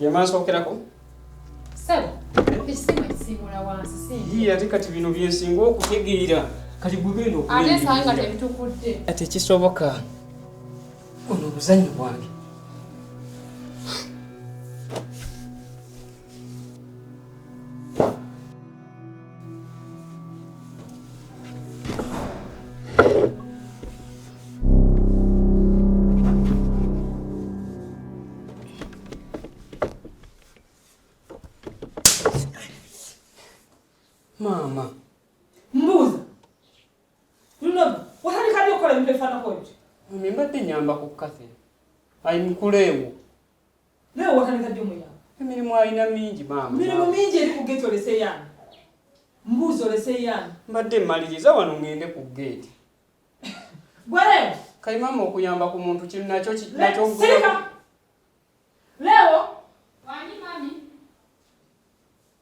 Yamansookerako. Sebo, ekisimu ekisiimula wansi si. Yii ate kati bino byensinga okutegeera. Kati gwe genda okulya. Ate nsanga nga tebitukudde. Ate kisoboka. Ono obuzannyo bwange. Mama. Mbuuza. Lunoba, watandika ddi okukola ebintu ebifaanako ebyo? Mami mbadde nyamba ku Cathy. Ayimukuleewo. Nawe wakanika ddi omuyaga? Emirimu alina mingi maama. Emirimu mingi eri ku gate olese yaani? Mbuuzi olese yaani? Mbadde mmaliriza wano ngende ku gate. Gwere! Kali maama okuyamba ku muntu kino nakyo nakyo gwe. Sirika! Leo! Wani mami?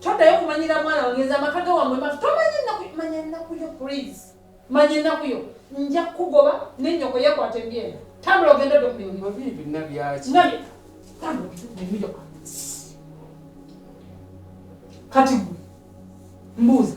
Toddayo kumanyira mwana wangenza amaka ge wamwe mafu tomanyi ennaku manya ennaku yo please manya ennaku yo nja kukugoba nenyoko yekwata embyenda tambula ogenda odde kubyonabinabyakinabye tambula ebiyo kati gwe mbuuza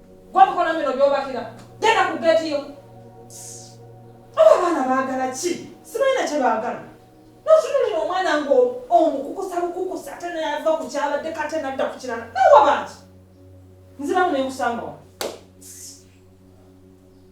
Gwa mukono bino byobakira. Genda ku gate yo. Aba bana bagala ki? Sibayina kye bagala. Notunulira omwana ngo omukukusa bukukusa ate nayava ku kyabadde kate nadda ku kirala. Nawa bangi. Nziramu nenkusanga wa.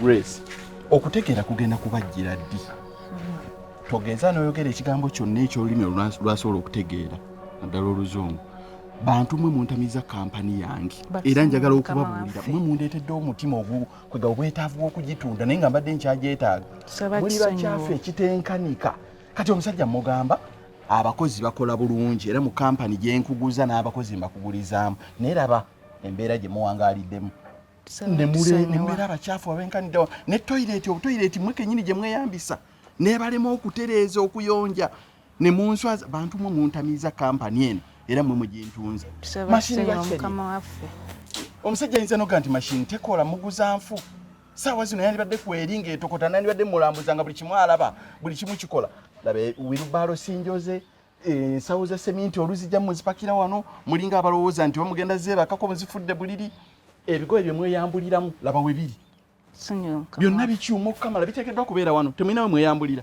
grace okutegeera kugenda kubajjira ddi togeza noyogera ekigambo kyonna ekyolulimi lwasobola okutegeera naddala oluzungu bantu mwe muntamiza kampani yange era njagala okubabuulira mwe mundeetedde omutima ogwo kwega obwetaavu bw'okugitunda naye nga mbadde nkyagyetaaga muli bakyafu ekitenkanika kati omusajja mugamba abakozi bakola bulungi era mu kampani gyenkuguza n'abakozi mbakugulizaamu naye laba embeera gye muwangaaliddemu nembeera abakyafu abenkaniddewa ne toyireti obutoyireti mwe kenyini gye mweyambisa nebalema okutereeza okuyonja ne munswa bantu mwe muntamiiza kampani eno era mwe mugintunze omusajja ayinza noga nti mashini tekola muguza nfu saawa zino yandibadde kweri ngaetokota nandibadde mulambuza nga buli kimu alaba buli kimu kikola labe wirubaalo sinjoze ensawo za seminti oluzijja muzipakira wano mulinga abalowooza nti wamugenda zeebakako muzifudde buliri ebigoye bye mweyambuliramu laba we biri byonna bikyuma okukamala biteekeddwa kubeera wano temulinawe mweyambulira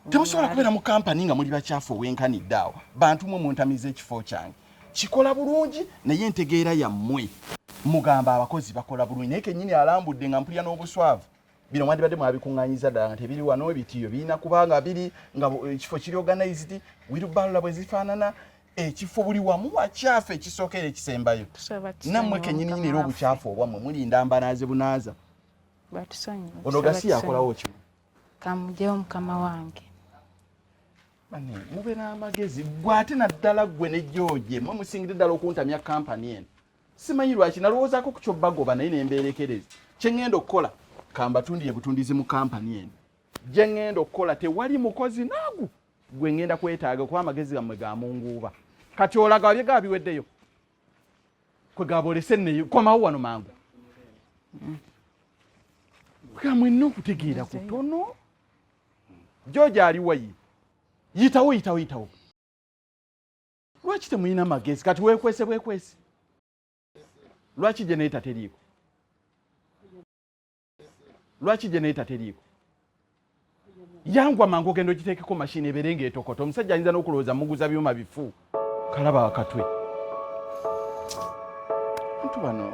temusobola kubeera mu kampani nga muli bakyafu owenkanidde awo bantu mwe muntamiza ekifo kyange kikola bulungi naye entegeera yammwe mugamba abakozi bakola bulungi naye kenyini alambudde nga mpulira n'obuswavu bino mwandibadde mwabikuŋŋanyiza ddala nga tebiri wano ebitiiyo birina kuba nga biri nga ekifo kiri organized wirubalula bwe zifaanana ekifo buli wamu wakyafu ekisooka era ekisembayo nammwe kenyininyini era obukyafu obwammwe mulinda mbanaaze bunaaza ono gasi yakolawo ki kamugyewo mukama wange mube n'amagezi gwe ate naddala ggwe ne george mwe musingire ddala okuntamya kampani eno simanyi lwaki nalowoozaako ku kyobbagoba naye nembeerekereza kye ŋŋenda okukola kambatundiye butundizi mu kampani eno gye ŋŋenda okukola tewali mukozi naagu gwe ŋŋenda kwetaaga kuba amagezi gammwe ga munguuba kati olaga wabye ga biweddeyo kwe gabolese neyo komawo wano mangu kamwenna okutegeera kutono joja aliwayi yitawo yitawo yitawo lwaki temulina magezi kati wekwese bwekwese lwaki geneta teriiko lwaki geneta teriiko yangwa mangu ogenda ogiteekeko mashini ebeere ngaetokota omusajja ayinza n'okulowooza muguza byuma bifu kalaba wakatwe ntu bano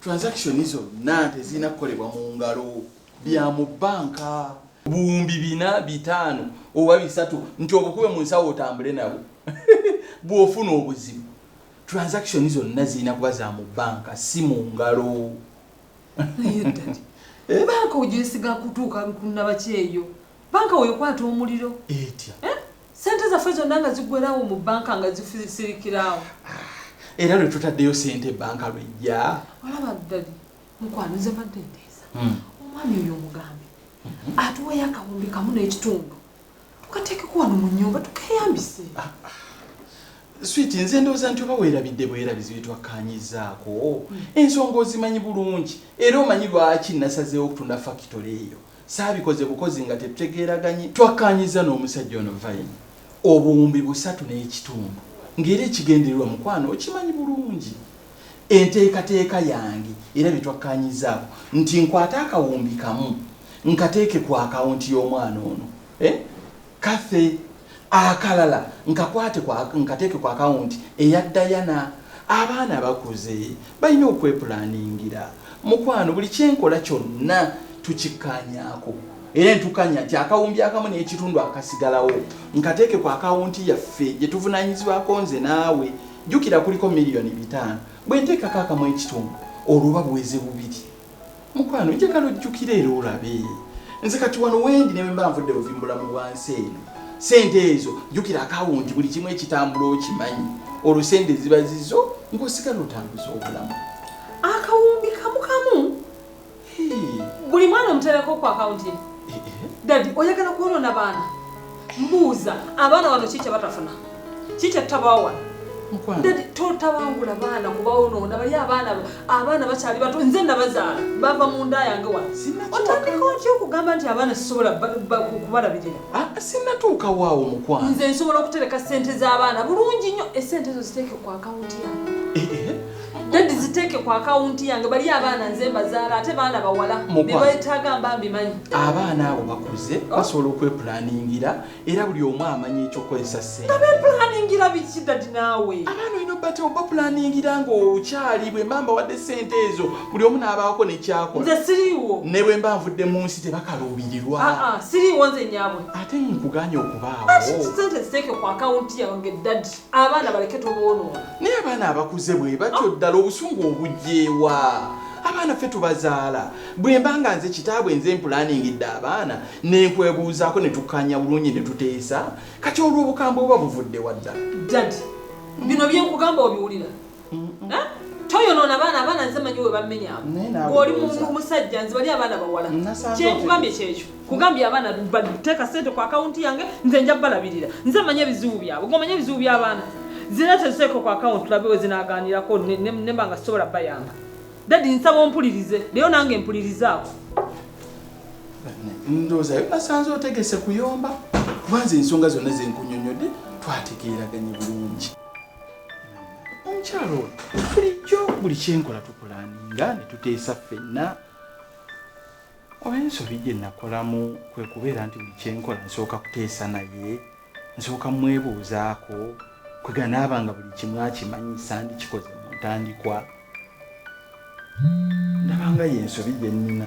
transaction zonna tezirina kukolebwa mu ngalo bya mu bbanka buwumbi bina bitaano oba bisatu nti obukube mu nsawo otambule nabo bw'ofuna obuzibu transaction zonna zirina kuba za mu bbanka si mu ngalo eh? banka ojesiga kutuuka kunabakyeyo banka wekwata omuliro etya eh? Sente zaffe zonna nga ziggwerawo mu banka nga zifisirikirawo. Era lwe tutaddeyo sente banka lwejja. Olaba ddali mukwano nze mbadde nteesa hmm. omwami oyo omugambe hmm. atuweeyo akawumbi kamu n'ekitundu tukateekeko wano mu nnyumba tukeyambise. Ah, ah. Switi nze ndowooza nti oba weerabidde bwerabizi bye twakkaanyizzaako hmm. ensonga ozimanyi bulungi era omanyi lwaki nasazeewo okutunda fakitole eyo. saabikoze bukozi nga tetutegeeraganyi. Twakkaanyizza n'omusajja ono vayini obuwumbi busatu n'ekitundu ng'era ekigendererwa mukwano okimanyi bulungi enteekateeka yange era bye twakkaanyizzaako nti nkwate akawumbi kamu nkateeke ku akawunti y'omwana ono eh? Cathy, akalala nkakwate kwa nkateeke ku akawunti eya Diana. Abaana bakuze balina okwepulaningira. Mukwano buli kye nkola kyonna tukikkaanyaako era ne tukkaanya nti akawumbi akamu n'ekitundu akasigalawo nkateeke ku akawunti yaffe gye tuvunaanyizibwako nze naawe. Jjukira kuliko miliyoni bitaano. Bwe nteekako akamu ekitundu olwo buba buweze bubiri. Mukwano njagala ojjukire era olabe nze kati wano wendi ne bwemba nvudde buvi mu bulamu bwa nsi eno sente ezo jjukira akawunti buli kimu ekitambula okimanyi olwo sente ziba zizo ng'osigala otambuza obulamu akawumbi kamu kamu buli mwana omutereko ku akawunti eh, eh. dadi oyagala kwonoona baana mbuuza abaana bano ki kyebatafuna ki kyetutabaawo wano ndadi totabangula baana kubawonoona bali abaana abaana bakyali bato nze nabazaala bava mu nda yange wano otandika otya okugamba nti abaana sisobola kubalabirira ah, sinatuuka waawo mukwano nze nsobola okutereka sente z'abaana bulungi nnyo esente ezo ziteeke ku akawunti yange eh, eh. Daddy ziteeke ku akawunti yange bali abaana nze mbazaala ate baana bawala bebayetaaga mba mbimanyi. Abaana abo bakuze oh. basobola okwepulaningira era buli omu amanyi ekyokukozesa ssente. Nga bepulaningira biki daddy naawe? Abaana olina obate obapulaningira ng'okyali bwe mba mbawadde ssente ezo buli omu n'abaako ne kyakola. Nze siriiwo. Ne bwe mba nvudde mu nsi tebakaluubirirwa. Ah, ah, siriiwo nze nnyabwe. Ate nkuganye okubaawo. Ati ssente ziteeke ku akawunti yange daddy. abaana baleke toboonoona naye abaana abakuze bwe batyo ah. ddala obusungu obugyewa abaana ffe tubazaala bwe mba nga nze kitaabwe nze mpulaaningidde abaana nenkwebuuzaako ne tukkaanya bulungi ne tuteesa kati olw'obukambwe oba buvudde wadda dadi bino byenkugamba obiwulira toyonoona abaana abaana nze manyi we bamenyamu oli musajja nze bali abaana bawala kyekugambye kyekyo kugambye abaana bateeka sente ku akawunti yange nze nja balabirira nze manyi ebizibu byabwe gomanyi ebizibu by'abaana zina teziteeka ku akawunti labe we zinaganirako nemba nga sisobola bayamba dadi nsaba ompulirize leyo nange mpulirizaako ndooza yonasanze otegese kuyomba kubanze ensonga zonna zenkunyonyodde twategeeraganye bulungi omukyalo oyo bulijjo buli kyenkola tukulaninga ne tuteesa ffenna oba ensobi gye nakolamu kwe kubeera nti buli kyenkola nsooka kuteesa naye nsooka mwebuuzaako kweganaaba nga buli kimu akimanyi sandikikoze mu ntandikwa ndabanga yensobi gye nnina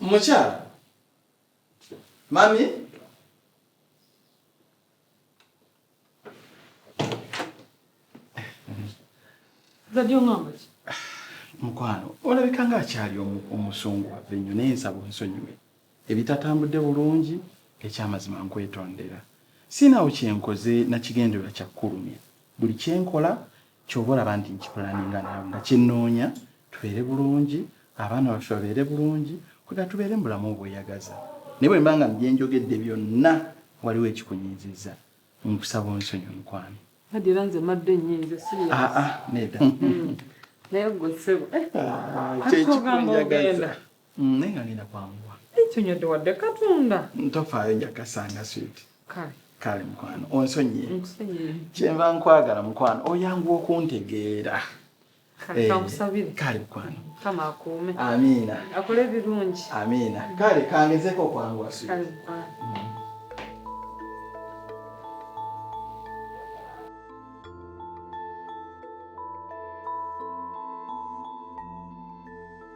mukyala mami mukwano olabika nga akyali omusonga waffe nnyo naye nsaba onsonyiwe ebitatambudde bulungi ekyamazima nkwetondera sinawo kyenkoze nakigendererwa kyakkulumya buli kyenkola kyoba olaba nti nkipulaninga naawe nga kyennoonya tubeere bulungi abaana baffe babeere bulungi kwegamba tubeere mu bulamu obweyagaza naye bwemba nga mubyenjogedde byonna waliwo ekikunyiizizza nkusaba onsonyiwe mukwano. Hajji era nze madde nyiize sirius. Ah ah neda. Naye gwe ssebo. Kyekikunjagaza. Mm, naye nga ngenda kwanguwa. Ekinyodde wadde katunda. Tofaayo nja kasanga sweet. Kale. Kale mukwano onsonyiye. Nkusonyiye. Kyenva nkwagala mukwano oyanguwa okuntegeera. Kale kankusabire. Eh, kale mukwano. Kama akuume. Amiina. Akole ebirungi. Amiina. Kale kangezeko okwanguwa sweet. Kale mukwano. Mm.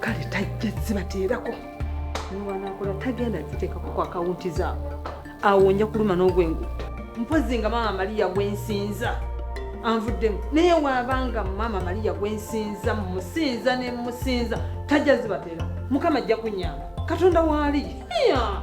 kale tajja zibateerako niwanakola tagenda ziteekako ku akawunti zaabo awo nja kuluma n'ogwengu mpozi nga maama maliya gwensinza anvuddemu naye waabanga maama maliya gwensinza mumusinza ne mumusinza tajja zibateerako mukama ajja kunyamba katonda waali yeah.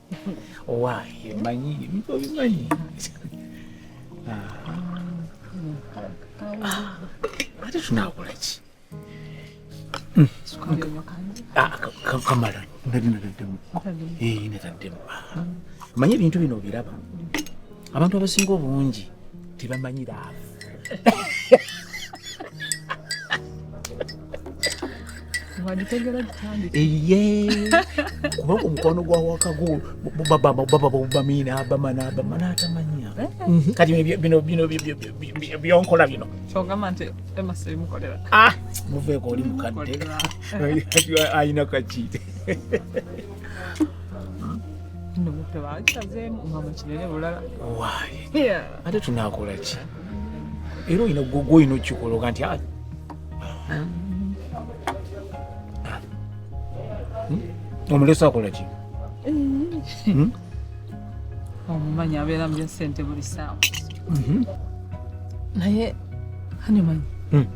owange manyi ebintu obimanyi ate tunakola ki kamala nali nataddemu nataddemu manyi ebintu bino obiraba abantu abasinga obungi tebamanyi laavu kubanga omukwano gwa wakagu babamabamanabamanaabamanaatamanya eh? mhm. kati bino bino byonkola bino kyogamba nti emasirimukolera ah, muveeko oli mukadde ayina kakiite no mutwe bakisazeemu omwama kinene bulala waayi ate tunaakola ki era olina gwoga olina okukikola oga nti ah. hmm? omulesa akola ki hmm? omumanyi abeera mu byasente buli saawa mhm. naye hanimanyi hmm.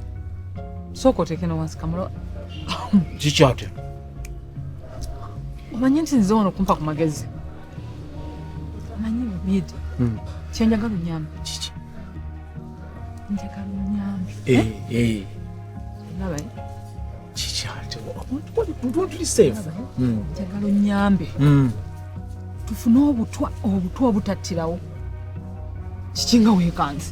sooka oteekeno wansi kamulo kikyatera omanyi nti nze wano kumpa ku magezi omanyi bibidi hmm. kyenjagala onyambi kiki njagala onyambi eh, eh? eh. olaba kiki ate ntuntulisifu hmm. njagala onyambe hmm. tufune obutwa obutwa obutattirawo kiki nga weekanze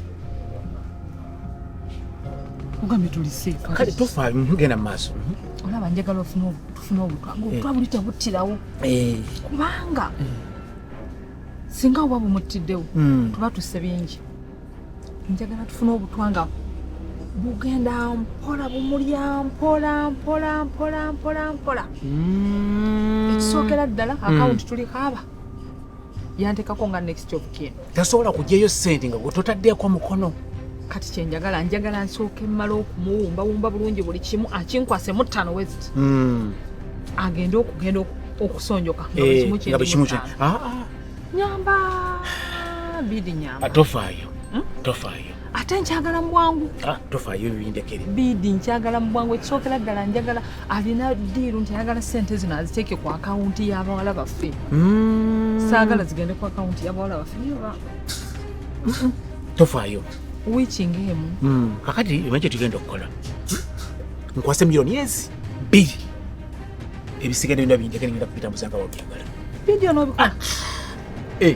ogambye tuli seefu kale tofaayo genda mu maaso olaba njagala ofune obutwa funa obukago eh. obuba buli tebuttirawo eh. kubanga eh. singa oba bumuttiddewo hmm. tuba tusse bingi njagala tufuna obutwa nga bugenda mpola bumulya mpola mpola mpola mpola mpola hmm. ekisookera ddala akawunti hmm. tuli kaaba yantekako nga next of kin tasobola kujeyo sente nga gwetutatdeeko mukono kati kyenjagala njagala nsooke mmala okumuwumbawumba bulungi buli kimu akinkwase muttano west hmm. agende okugenda okusonjoka nga eh, bwekimu ah, ah. nyamba bidi nyamba ah, tofaayo hmm? tofaayo ate nkyagala mubwangu ah, tofayo bindekere bidi nkyagala mubwangu ekisookera ddala njagala alina diiru nti ayagala sente zino aziteeke ku akawunti y'abawala baffe mm. saagala zigende ku akawunti y'abawala baffe niyoba tofayo wikinga emu mm. kakati emanyi kyetugenda okukola nkwase miliyoni ezi bbiri ebisigadde byona bindekere ngenda kupita muzanga wabyagala bidi onobikola ah. eh.